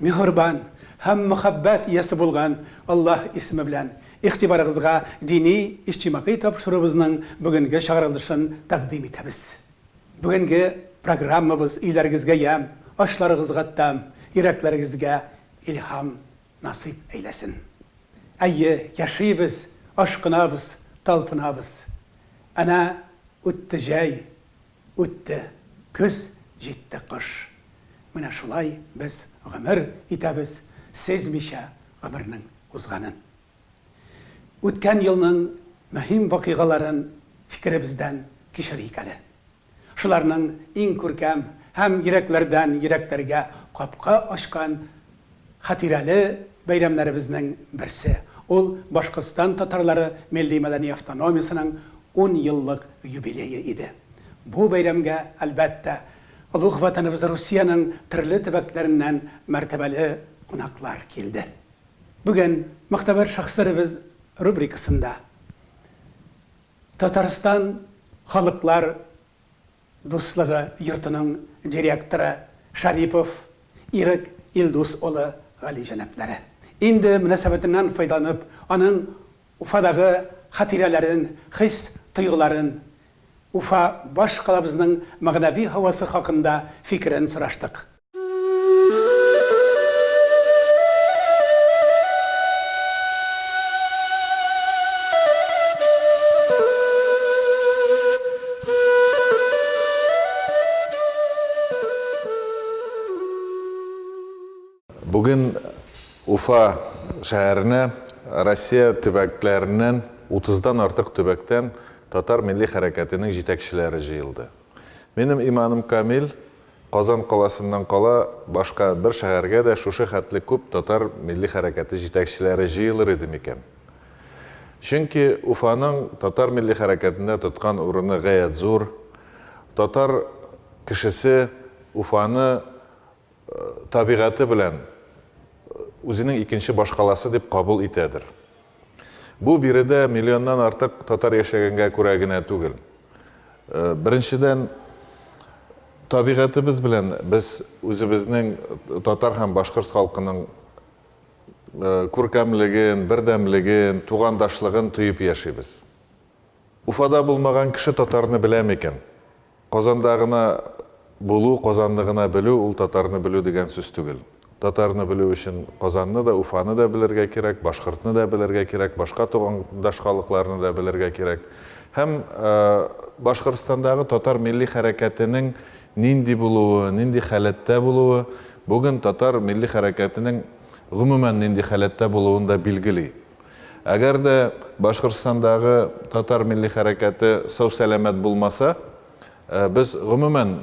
Миһербан һәм мәхәббәт иясе булган Аллаһ исеме белән игътибарыгызга дини иҗтимагый тапшыруыбызның бүгенге чыгарылышын тәкъдим итәбез. Бүгенге программабыз өйләрегезгә ямь, ашларыгызга тәм, йөрәкләрегезгә илһам насыйп әйләсен. Әйе, яшибез, ашкынабыз, талпынабыз. Әнә үтте җәй, Үтте көз, җитте кыш. Менә шулай без гомер итәбез, сизмичә гомернең узганын. Үткән елның мөһим вакыйгаларын фикеребездән кичерик әле. Шуларның иң күркәм һәм йөрәкләрдән йөрәкләргә капка ачкан Хатирәле бәйрәмнәребезнең берсе, ул Башкортстан татарлары милли-мәдәни автономиясенең ун еллык юбилее иде. Бу бәйрәмгә, әлбәттә, олуг Ватаныбыз Русиянең төрле төбәкләреннән мәртәбәле кунаклар килде. Бүген Могтәбәр шәхесләребез рубрикасында Татарстан халыклар Дуслыгы йортының директоры Шарипов Ирек Илдус улы галиҗәнаплары. Инде мөнәсәбәтеннән файдаланып, аның Уфадагы хатирәләрен, хис-тойгыларын, Уфа башкалабызның мәгънәви һавасы хакында фикерен сораштык. Бүген Уфа шәһәренә Россия төбәкләреннән 30-дан артык төбәктән татар милли хәрәкәтенең җитәкчеләре җыелды. Минем иманым камил, Казан каласыннан кала башка бер шәһәргә дә шушы хәтле күп татар милли хәрәкәте җитәкчеләре җыелыр иде микән? Чөнки Уфаның татар милли хәрәкәтендә тоткан урыны гаять зур, татар кешесе Уфаны табигате белән үзенең икенче башкаласы дип кабул итәдер. Бу биредә миллионнан артык татар яшәгәнгә күрә генә түгел. Беренчедән, табигатебез белән без үзебезнең татар һәм башкорт халкының күркәмлеген, бердәмлеген, тугандашлыгын тоеп яшибез. Уфада булмаган кеше татарны белә микән? Казанда гына булу, Казанны гына белү ул татарны белү дигән сүз түгел. Татарны белү өчен Казанны да, Уфаны да белергә кирәк, башкортны да белергә кирәк, башка тугандаш халыкларны да белергә кирәк. Һәм Башкортстандагы татар милли хәрәкәтенең нинди булуы, нинди халәттә булуы бүген татар милли хәрәкәтенең гомумән нинди халәттә булуын да билгели. Әгәр дә Башкортстандагы татар милли хәрәкәте сау-сәламәт булмаса, без, гомумән,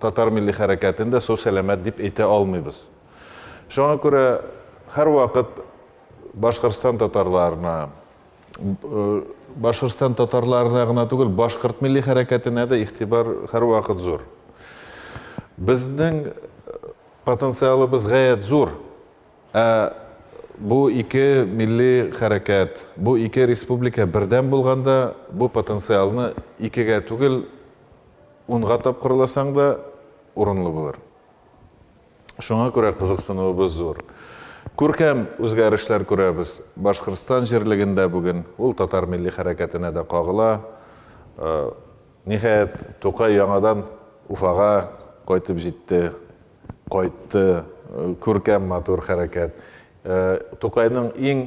татар милли хәрәкәтен дә сау-сәламәт дип әйтә алмыйбыз. Шуңа күрә һәрвакыт Башкортстан татарларына, Башкортстан татарларына гына түгел, башкорт милли хәрәкәтенә дә игътибар һәрвакыт зур. Безнең потенциалыбыз гаять зур. Ә бу ике милли хәрәкәт, бу ике республика бердәм булганда, бу потенциалны икегә түгел, унга тапкырласаң да урынлы булыр. Шуңа күрә кызыксынуыбыз зур. Күркәм үзгәрешләр күрәбез Башкортстан җирлегендә бүген. Ул татар милли хәрәкәтенә дә кагыла. Ниһаять, Тукай яңадан Уфага кайтып җитте. Кайтты, күркәм матур хәрәкәт. Тукайның иң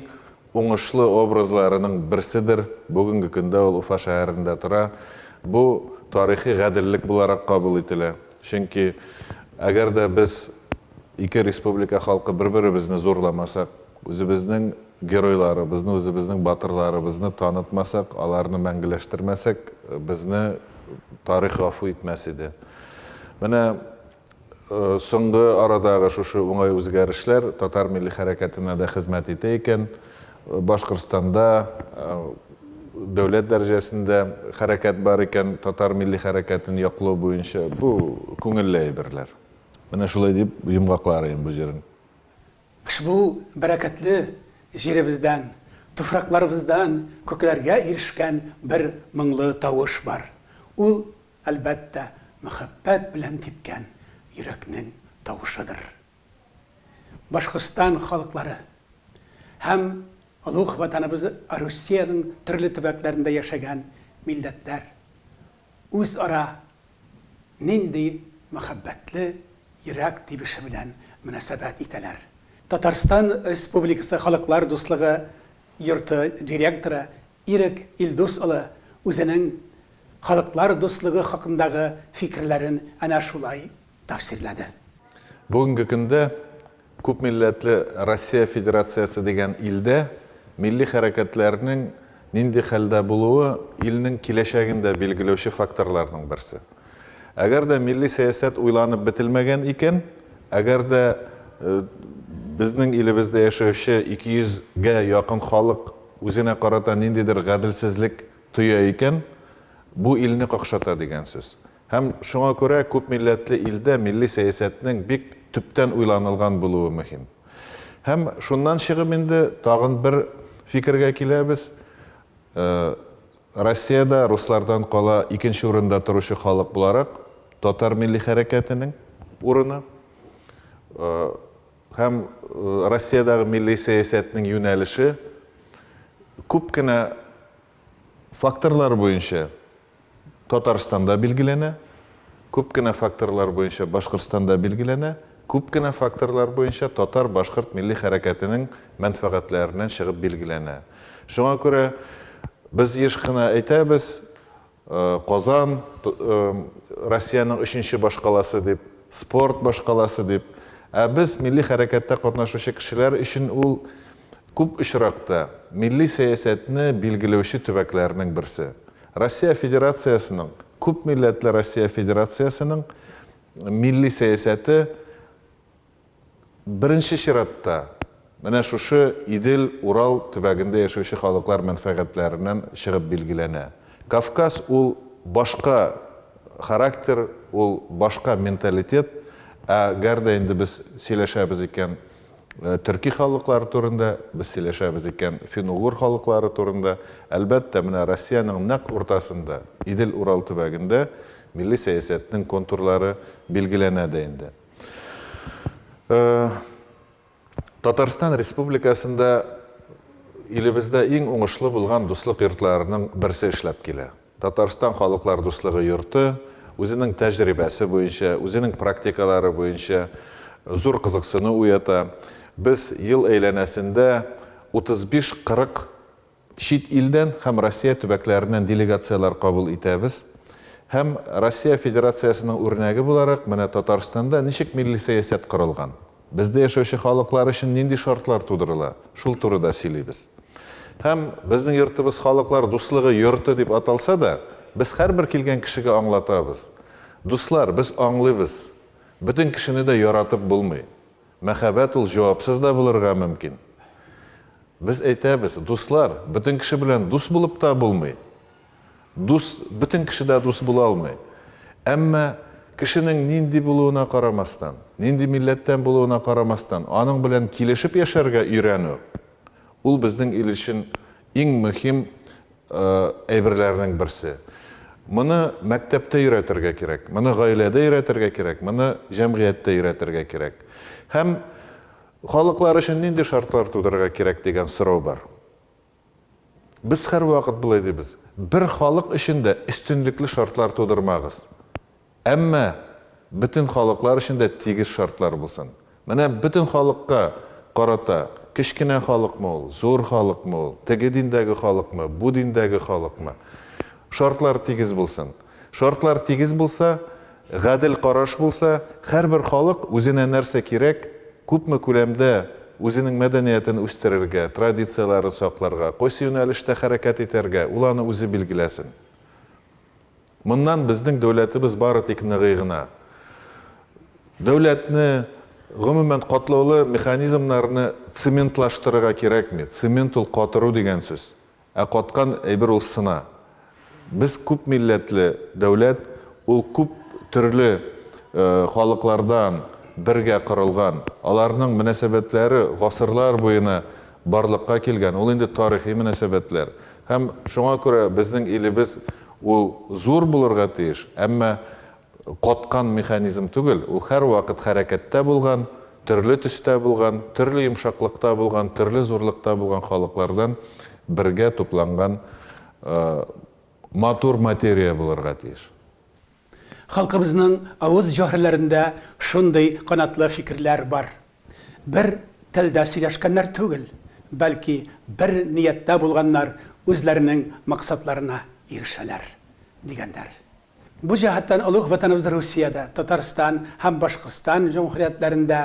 уңышлы образларының берседер, бүгенге көндә ул Уфа шәһәрендә тора. Бу тарихи гаделлек буларак кабул ителә. Чөнки, әгәр дә без ике республика халкы бер-беребезне зурламасак, үзебезнең геройларыбызны, үзебезнең батырларыбызны танытмасак, аларны мәңгеләштермәсәк, безне тарих гафу итмәс иде. Менә Соңгы арадагы шушы уңай үзгәрешләр татар милли хәрәкәтенә дә хезмәт итә икән. Башкортстанда дәүләт дәрәҗәсендә хәрәкәт бар икән, татар милли хәрәкәтен яклау буенча. Бу күңелле әйберләр. Менә шулай дип йомгакларыйм бу җырын. Ошбу бәрәкәтле җиребездән, туфракларыбыздан күкләргә ирешкән бер моңлы тавыш бар. Ул Әлбәттә, мәхәббәт белән типкән йөрәкнең тавышыдыр. Башкортстан халыклары һәм олуг Ватаныбыз Русиянең төрле төбәкләрендә яшәгән милләтләр үзара нинди мәхәббәтле йөрәк тибеше белән мөнәсәбәт итәләр? Татарстан Республикасы Халыклар дуслыгы йорты директоры Ирек Илдус улы үзенең Халыклар дуслыгы хакындагы фикерләрен әнә шулай тәфсирләде. Бүгенге көндә күпмилләтле Россия Федерациясе дигән илдә милли хәрәкәтләрнең нинди хәлдә булуы илнең киләчәген дә билгеләүче факторларның берсе. Әгәр дә милли сәясәт уйланып бетелмәгән икән, әгәр дә безнең илебездә яшәүче 200 гә якын халык үзенә карата ниндидер гаделсезлек Тоя икән, бу илне какшата дигән сүз. Һәм шуңа күрә күп милләтле илдә милли сәясәтнең бик төптән уйланылган булуы мөһим. Һәм шуннан чыгып инде тагын бер фикергә киләбез, Россиядә руслардан кала икенче урында торучы халык буларак, татар милли хәрәкәтенең урыны, Һәм Россиядәге милли сәясәтнең юнәлеше күп кенә факторлар буенча Татарстанда билгеләнә, күп кенә факторлар буенча Башкортстанда билгеләнә, күп кенә факторлар буенча татар-башкорт милли хәрәкәтенең мәнфәгатьләреннән чыгып билгеләнә. Шуңа күрә без еш кына әйтәбез, Казан, Россиянең өченче башкаласы дип, спорт башкаласы дип. Ә без, милли хәрәкәттә катнашучы кешеләр өчен ул, күп очракта, милли сәясәтне билгеләүче төбәкләрнең берсе. Россия Федерациясенең, күпмилләтле Россия Федерациясенең милли сәясәте, Беренче чиратта, менә шушы Идел, Урал төбәгендә яшәүче халыклар мәнфәгатьләреннән чыгып билгеләнә. Кавказ ул башка характер, ул башка менталитет. Ә гәр дә инде без сөйләшәбез икән төрки халыклар турында, без сөйләшәбез икән фин-угур халыклары турында, әлбәттә, менә Россиянең нәкъ уртасында, Идел, Урал төбәгендә милли сәясәтнең контурлары билгеләнә дә инде. Э, Татарстан Республикасында илебездә иң уңышлы булган дуслык йортларының берсе эшләп килә. Татарстан халыклар дуслыгы йорты үзенең тәҗрибәсе буенча, үзенең практикалары буенча зур кызыксыну уята. Без ел әйләнәсендә 35-40 Чит илдән һәм Россия төбәкләреннән делегацияләр кабул итәбез. Һәм Россия Федерациясенең үрнәге буларак, менә Татарстанда ничек милли сәясәт корылган, бездә яшәүче халыклар өчен нинди шартлар тудырыла, шул турыда сөйлибез. Һәм, безнең йортыбыз Халыклар дуслыгы йорты дип аталса да, без һәрбер килгән кешегә аңлатабыз, Дуслар, без аңлыйбыз, бөтен кешене дә яратып булмый. Мәхәббәт ул җавапсыз да булырга мөмкин. Без әйтәбез, дуслар, бөтен кеше белән дус булып та булмый. Дус бөтен кеше дә дус була алмый. Әмма кешенең нинди булуына карамастан, нинди милләттән булуына карамастан, аның белән килешеп яшәргә өйрәнү, ул безнең ил өчен иң мөһим әйберләренең берсе. Моны мәктәптә өйрәтергә кирәк, моны гаиләдә өйрәтергә кирәк, моны җәмгыятьтә өйрәтергә кирәк. Һәм халыклар өчен нинди шартлар тудырырга кирәк дигән сорау бар. Без һәрвакыт болай дибез, бер халык өчен дә өстенлекле шартлар тудырмагыз. Әмма бөтен халыклар өчен дә тигез шартлар булсын. Менә бөтен халыкка карата, кечкенә халыкмы ул, зур халыкмы ул, теге диндәге халыкмы, бу диндәге халыкмы, шартлар тигез булсын. Шартлар тигез булса, гадел караш булса, һәрбер халык үзенә нәрсә кирәк, күпме күләмдә үзенең мәдәниятен үстерергә, традицияләрен сакларга, кайсы юнәлештә хәрәкәт итәргә, ул аны үзе билгеләсен. Моннан безнең дәүләтебез бары тик ныгый гына. Дәүләтне, гомумән, катлаулы механизмнарны цементлаштырырга кирәкми. Цемент ул катыру дигән сүз. Ә каткан әйбер ул сына. Без күп милләтле дәүләт, ул күп төрле халыклардан бергә корылган. Аларның мөнәсәбәтләре гасырлар буена барлыкка килгән, ул инде тарихи мөнәсәбәтләр. Һәм шуңа күрә безнең илебез ул зур булырга тиеш, әмма каткан механизм түгел, ул һәрвакыт хәрәкәттә булган, төрле төстә булган, төрле йомшаклыкта булган, төрле зурлыкта булган халыклардан бергә тупланган матур материя булырга тиеш. Халкыбызның авыз җөһәрләрендә шундый канатлы фикерләр бар. Бер телдә сөйләшкәннәр түгел, бәлки бер нияттә булганнар үзләренең максатларына ирешәләр, дигәннәр. Бу җәһәттән олуг Ватаныбыз Русиядә, Татарстан һәм Башкортстан җөмһүриятләрендә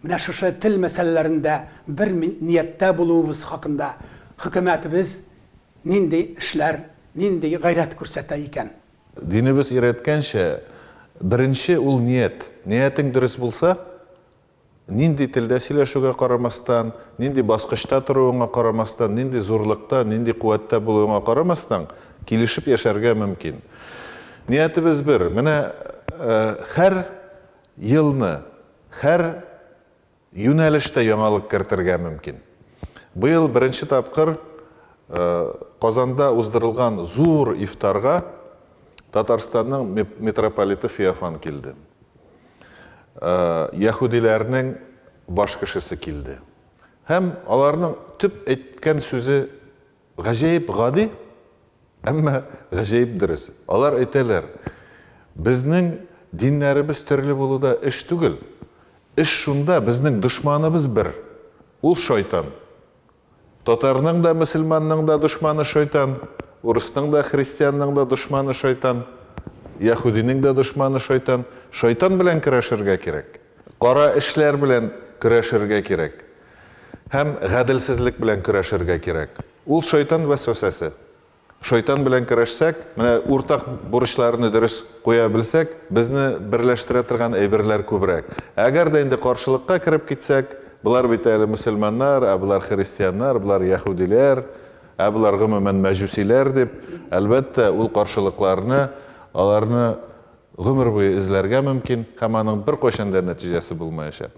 менә шушы тел мәсьәләләрендә бер нияттә булуыбыз хакында хөкүмәтебез нинди эшләр, нинди гайрәт күрсәтә икән? Динебез өйрәткәнчә, беренче ул ният. Ниятең дөрес булса, нинди телдә сөйләшүгә карамастан, нинди баскычта торуыңа карамастан, нинди зурлыкта, нинди куәттә булуыңа карамастан, килешеп яшәргә мөмкин. Ниятебез бер, менә һәр елны, һәр Юнәлештә яңалык кертергә мөмкин. Быел беренче тапкыр Казанда уздырылган зур ифтарга Татарстанның митрополиты Феофан килде. Яһүдиләрнең баш кешесе килде. Һәм аларның төп әйткән сүзе Гаҗәеп гади, әмма гаҗәеп дөрес. Алар әйтәләр, Безнең диннәребез төрле булуда эш түгел. Эш шунда, безнең дошманыбыз бер, ул шайтан. Татарның да, мөселманның да дошманы шайтан, урысның да, христианның да дошманы шайтан, яһүдинең дә дошманы шайтан. Шайтан белән көрәшергә кирәк. Кара эшләр белән көрәшергә кирәк. Һәм гаделсезлек белән көрәшергә кирәк. Ул шайтан вәсвәсәсе. Шайтан белән көрәшсәк, менә уртак бурычларны дөрес куя белсәк, безне берләштерә торган әйберләр күбрәк. Әгәр дә инде каршылыкка кереп китсәк, болар бит әле мөселманнар, ә болар христианнар, болар яһүдиләр, ә болар гомумән мәҗүсиләр дип, әлбәттә, ул каршылыкларны, аларны гомер буе эзләргә мөмкин һәм аның беркайчан да нәтиҗәсе булмаячак.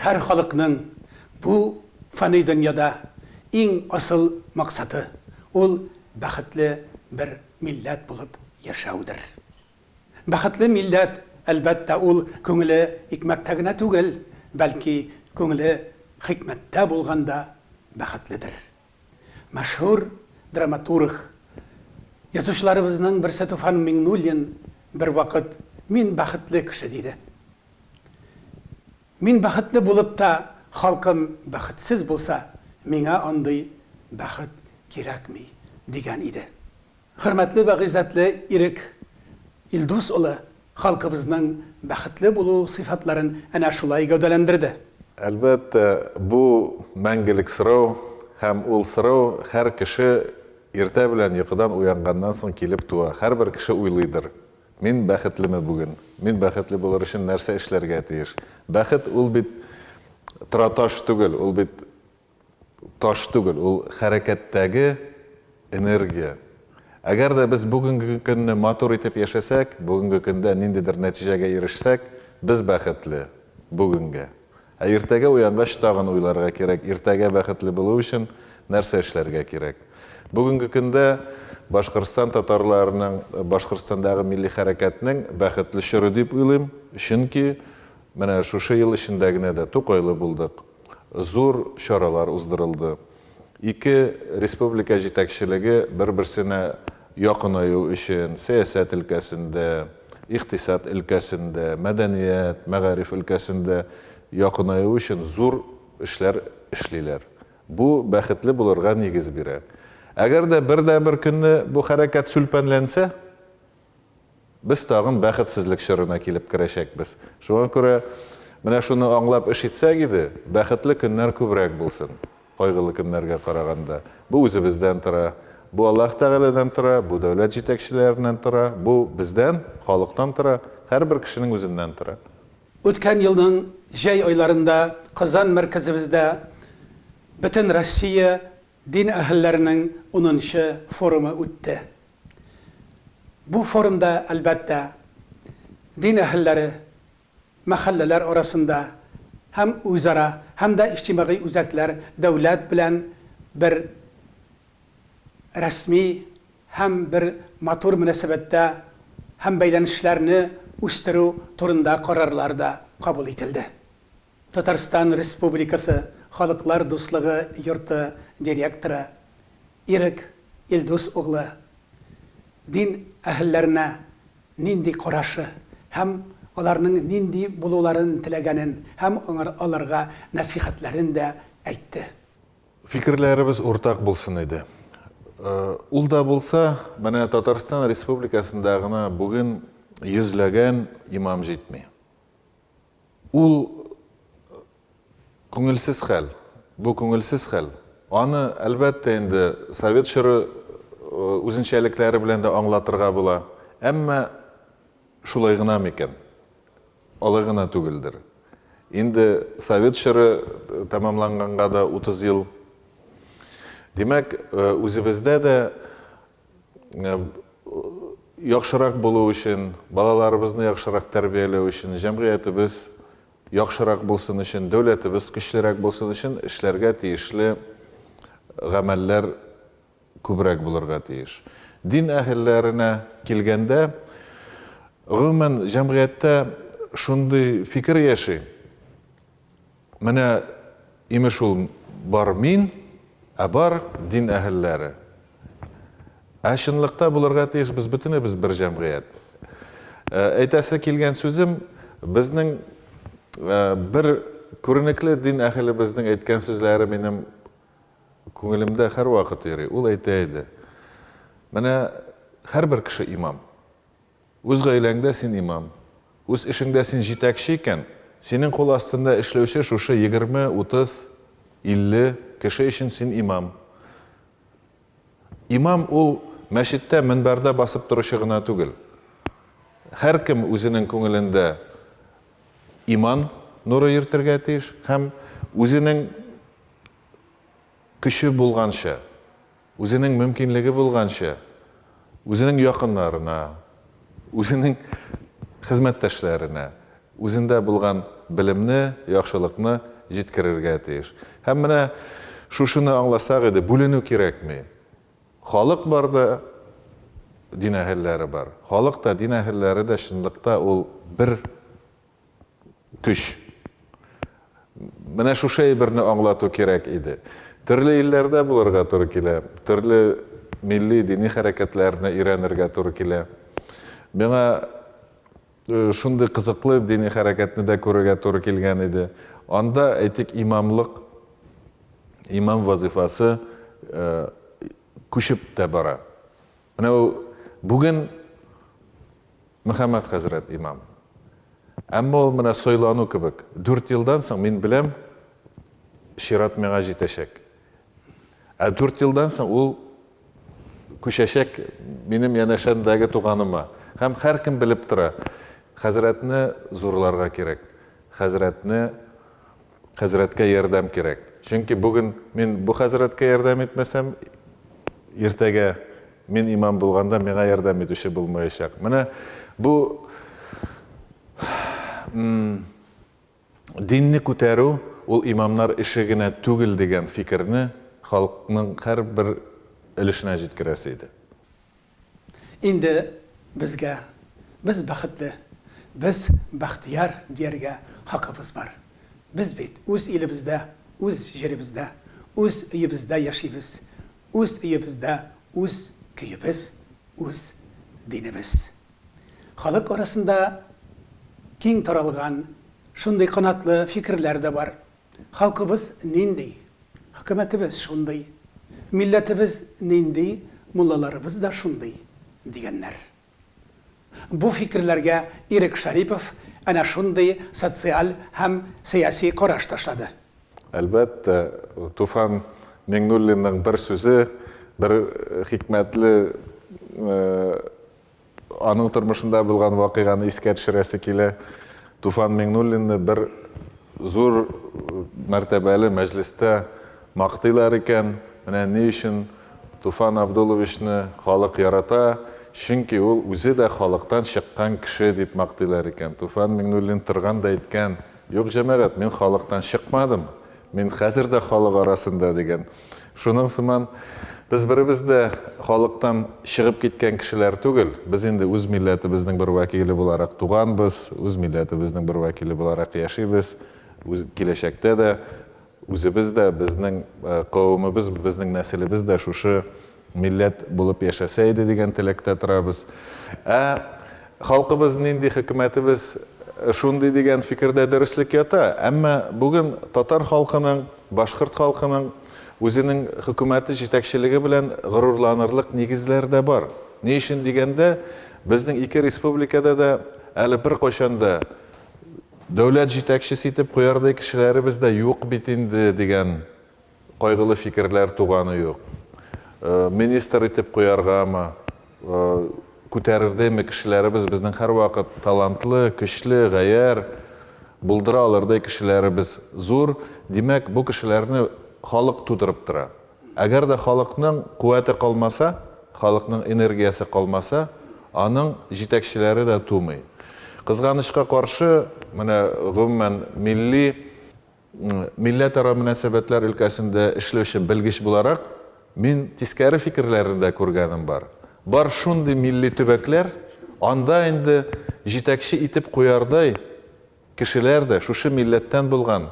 Һәр халыкның бу фани дөньяда иң асыл максаты, ул бәхетле бер милләт булып яшәүдер. Бәхетле милләт, әлбәттә, ул күңеле икмәктә генә түгел, бәлки, күңеле хикмәттә булганда бәхетледер. Мәшһүр драматург, язучыларыбызның берсе Туфан Миңнуллин бервакыт Мин бәхетле кеше диде. Мин бәхетле булып та, халкым бәхетсез булса, миңа андый бәхет кирәкми, дигән иде. Хөрмәтле вә гыйззәтле Ирек Илдус улы халкыбызның бәхетле булу сыйфатларын әнә шулай гәүдәләндерде. Әлбәттә, бу, мәңгелек сорау, һәм ул сорау һәр кеше иртә белән йокыдан уянганнан соң килеп туа. Һәрбер кеше уйлыйдыр, Мин бәхетлеме бүген? Мин бәхетле булыр өчен нәрсә эшләргә тиеш? Бәхет ул бит тораташ түгел, ул бит. Таш түгел, ул хәрәкәттәге энергия. Әгәр дә без бүгенге көнне матур итеп яшәсәк, бүгенге көндә ниндидер нәтиҗәгә ирешсәк, без бәхетле, бүгенгә. Ә иртәгә уянгач тагын уйларга кирәк, иртәгә бәхетле булу өчен нәрсә эшләргә кирәк. Бүгенге көндә Башкортстан татарларының, Башкортстандагы милли хәрәкәтнең бәхетле чоры дип уйлыйм, чөнки менә шушы ел эчендә генә дә Тукайлы булдык, Зур чаралар уздырылды. Ике республика җитәкчелеге бер-берсенә якынаю өчен сәясәт өлкәсендә, икътисад өлкәсендә, мәдәният, мәгариф өлкәсендә якынаю өчен зур эшләр эшлиләр. Бу бәхетле булырга нигез бирә. Әгәр дә бер дә бер көнне бу хәрәкәт сүлпәнләнсә, Без тагын бәхетсезлек чорына килеп керәчәкбез. Шуңа күрә менә шуны аңлап эш итсәк иде, бәхетле көннәр күбрәк булсын, кайгылы көннәргә караганда. Бу үзебездән тора. Бу Аллаһ Тәгаләдән тора, бу дәүләт җитәкчеләреннән тора, бу бездән, халыктан тора, һәрбер кешенең үзеннән тора. Үткән елның җәй айларында Казан мәркәзебездә Бөтенроссия дин әһелләренең унынчы форумы үтте. Бу форумда, әлбәттә, дин әһелләре, мәхәлләләр арасында һәм үзара, һәм дә иҗтимагый үзәкләр дәүләт белән бер рәсми һәм бер матур мөнәсәбәттә һәм бәйләнешләрне үстерү турында карарлар да кабул ителде. Татарстан Республикасы Халыклар дуслыгы йорты директоры Ирек Илдус углы дин әһелләренә нинди карашы һәм аларның нинди булуларын теләгәнен һәм аларга нәсыйхәтләрен дә әйтте. Фикерләребез уртак булсын иде. Ул да булса, менә Татарстан Республикасында гына бүген йөзләгән имам җитми. Ул күңелсез хәл, бу күңелсез хәл. Аны, әлбәттә инде, совет чоры үзенчәлекләре белән дә аңлатырга була. Әмма шулай гына микән? Алай гына түгелдер. Инде совет чоры тәмамланганга да 30 ел. Димәк, үзебездә дә яхшырак булу өчен, балаларыбызны яхшырак тәрбияләү өчен, җәмгыятебез яхшырак булсын өчен, дәүләтебез көчлерәк булсын өчен эшләргә тиешле гамәлләр күбрәк булырга тиеш. Дин әһелләренә килгәндә, гомумән, җәмгыятьтә шундый фикер яши, Менә, имеш, ул бар мин, ә бар дин әһелләре. Ә чынлыкта булырга тиеш, без бөтенебез бер җәмгыять. Әйтәсе килгән сүзем, безнең бер күренекле дин әһелебезнең әйткән сүзләре минем күңелемдә һәрвакыт йөри. Ул әйтә иде, Менә һәрбер кеше имам. Үз гаиләңдә син имам, үз эшеңдә син җитәкче икән, синең кул астында эшләүче шушы егерме, утыз, илле кеше өчен син имам. Имам ул мәчеттә мөнбәрдә басып торучы гына түгел. Һәркем үзенең күңелендә иман нуры йөртергә тиеш һәм үзенең көче булганча, Үзенең мөмкинлеге булганча, үзенең якыннарына, үзенең хезмәттәшләренә үзендә булган белемне, яхшылыкны җиткерергә тиеш. Һәм менә шушыны аңласак иде, бүленү кирәкми. Халык бар да, дин әһелләре бар. Халык та, дин әһелләре дә чынлыкта ул бер Көч. Менә шушы әйберне аңлату кирәк иде. Төрле илләрдә булырга туры килә, төрле милли, дини хәрәкәтләрне өйрәнергә туры килә. Миңа шундый кызыклы дини хәрәкәтне дә күрергә туры килгән иде. Анда, әйтик, имамлык, имам вазыйфасы күчеп тә бара. Менә ул бүген Мөхәммәд хәзрәт имам. Әмма ул менә сайлану кебек. Дүрт елдан соң, мин беләм, чират миңа җитәчәк. Ә дүрт елдан соң ул күчәчәк минем янәшәмдәге туганыма. Һәм һәркем белеп тора, хәзрәтне зурларга кирәк, хәзрәтне Хәзрәткә ярдәм кирәк. Чөнки бүген мин бу хәзрәткә ярдәм итмәсәм, иртәгә мин имам булганда миңа ярдәм итүче булмаячак. Менә бу динне күтәрү ул имамнар эше генә түгел дигән фикерне халыкның һәрбер өлешенә җиткерәсе иде. Инде безгә, без бәхетле, без бәхтияр дияргә хакыбыз бар. Без бит үз илебездә, үз җиребездә, үз өебездә яшибез, үз өебездә үз көебез, үз динебез. Халык арасында киң таралган шундый канатлы фикерләр дә бар, Халкыбыз нинди, хөкүмәтебез шундый, милләтебез нинди, муллаларыбыз да шундый, дигәннәр. Бу фикерләргә Ирек Шәрипов әнә шундый социаль һәм сәяси караш ташлады. Әлбәттә, Туфан Миңнуллинның бер сүзе, бер хикмәтле Аның тормышында булган вакыйганы искә төшерәсе килә. Туфан Миңнуллинны бер зур мәртәбәле мәҗлестә мактыйлар икән. Менә ни өчен Туфан Абдуловичны халык ярата, чөнки ул үзе дә халыктан чыккан кеше, дип мактыйлар икән. Туфан Миңнуллин торган да әйткән, Юк, җәмәгать, мин халыктан чыкмадым, Мин хәзер дә халык арасында дигән. Шуның сыман, без беребез дә халыктан чыгып киткән кешеләр түгел. Без инде үз милләтебезнең бер вәкиле буларак туганбыз, үз милләтебезнең бер вәкиле буларак яшибез, киләчәктә дә үзебез дә, безнең кавемебез, безнең нәселебез дә шушы Милләт булып яшәсә иде дигән теләктә торабыз. Ә халкыбыз нинди, хөкүмәтебез шундый дигән фикердә дөреслек ята. Әмма бүген татар халкының, башкорт халкының үзенең хөкүмәте, җитәкчелеге белән горурланырлык нигезләр дә бар. Ни өчен дигәндә, безнең ике республикада да әле беркайчан да дәүләт җитәкчесе итеп куярдай кешеләребез дә юк бит инде дигән Кайгылы фикерләр туганы юк. Министр итеп куяргамы, күтәрердеме, кешеләребез безнең һәрвакыт талантлы, көчле, гаярь, булдыра алырдай кешеләребез зур. Димәк, бу кешеләрне халык тудырып тора. Әгәр дә халыкның куәте калмаса, халыкның энергиясе калмаса, аның җитәкчеләре дә тумый. Кызганычка каршы, менә гомумән милли. Милләтара мөнәсәбәтләр өлкәсендә эшләүче белгеч буларак, мин тискәре фикерләрне дә күргәнем бар. Бар шундый милли төбәкләр, анда инде җитәкче итеп куярдай кешеләр дә шушы милләттән булган,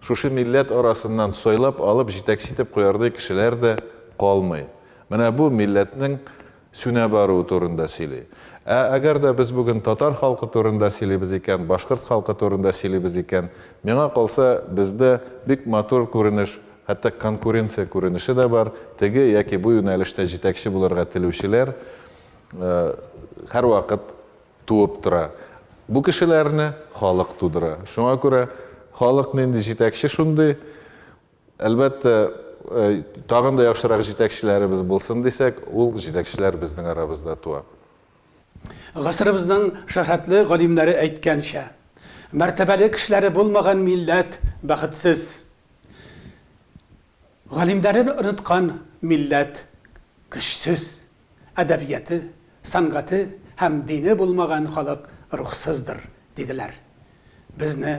шушы милләт арасыннан сайлап алып җитәкче итеп куярдай кешеләр дә калмый. Менә бу милләтнең сүнә баруы турында сөйли. Ә әгәр дә без бүген татар халкы турында сөйлибез икән, башкорт халкы турында сөйлибез икән, миңа калса, бездә бик матур күренеш, хәтта конкуренция күренеше дә бар, теге яки бу юнәлештә җитәкче булырга телүчеләр һәрвакыт туып тора. Бу кешеләрне халык тудыра. Шуңа күрә халык нинди җитәкче, шундый. Әлбәттә, тагын да яхшырак җитәкчеләребез булсын дисәк, ул җитәкчеләр безнең арабызда туа. Гасырыбызның шөһрәтле галимнәре әйткәнчә, Мәртәбәле кешеләре булмаган милләт бәхетсез. Галимнәрен оныткан милләт көчсез. Әдәбияты, сәнгате һәм дине булмаган халык рухсыздыр, диделәр. Безне